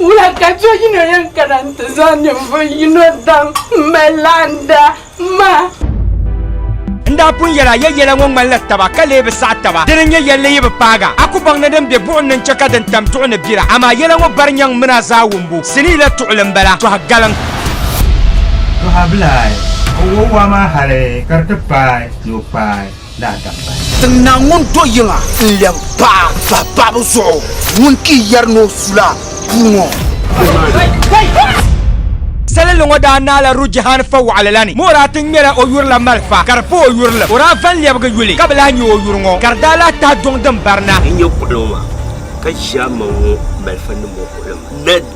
Wula ka do yino yɛn kana nti zaŋ ninvuɣ yino daŋ m-mali laanda maa? N daa pun yɛl a ya yɛla ŋɔ ŋmanila taba ka lee bi saɣi taba. Dini n-nyɛ yɛlli yi bi paaga? A ku baŋ ni din be buɣim ni n-chɛ ka din tam duɣu ni bira. Amaa yɛla ŋɔ bari nyaŋ mini a zaa wumbu. Sinii la tuɣili m-bala, tɔha galiŋ. Tɔha bilahi, o wo waa maa hali ka di ti paai ni o kpaai. daa dam bahi. Tiŋ Naa ŋun do yiŋa n-lɛbi paɣa bahi paɣibu zuɣu, ŋun ti yɛri ni o su la puu ŋɔ. Salinli ŋɔ daa naai la Rujihan fa waɣili la ni, mi o daa ti ŋmɛla o yuri la malifa ka di pa o yurilim. O daa van lɛbigi yuli ka bi lahi nya o yuri ŋɔ, ka di daa lahi tahi duŋ din barina. N nya kuɣili ŋɔ maa, ka ʒiɛmaŋ ŋɔ malifa nim ŋɔ kuɣili maa.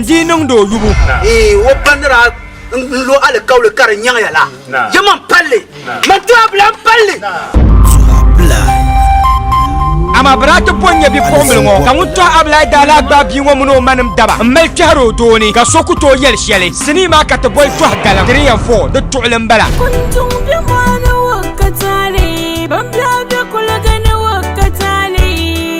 Di niŋdi o yubu. Ee, o ba ni daa n lo alikauli ka di nyaŋya la, ya man palli, man ti a bila n palli. Amaa bɛ daa ti pɔ n-nya bipuɣimbila ŋɔ, ka ŋun tɔhi a bila daa lahi gbaai bia ŋɔ mini o ma nim daba m-mali kpɛhiri o doo ni, ka so ku tooi yɛli shɛli. Sinii maa ka ti boli tɔhi galiŋ, three and four, di tuɣili m-bala. Kunduŋ be mɔɣu ni wakataali, bambiɛɣu be kuliga ni wakataali.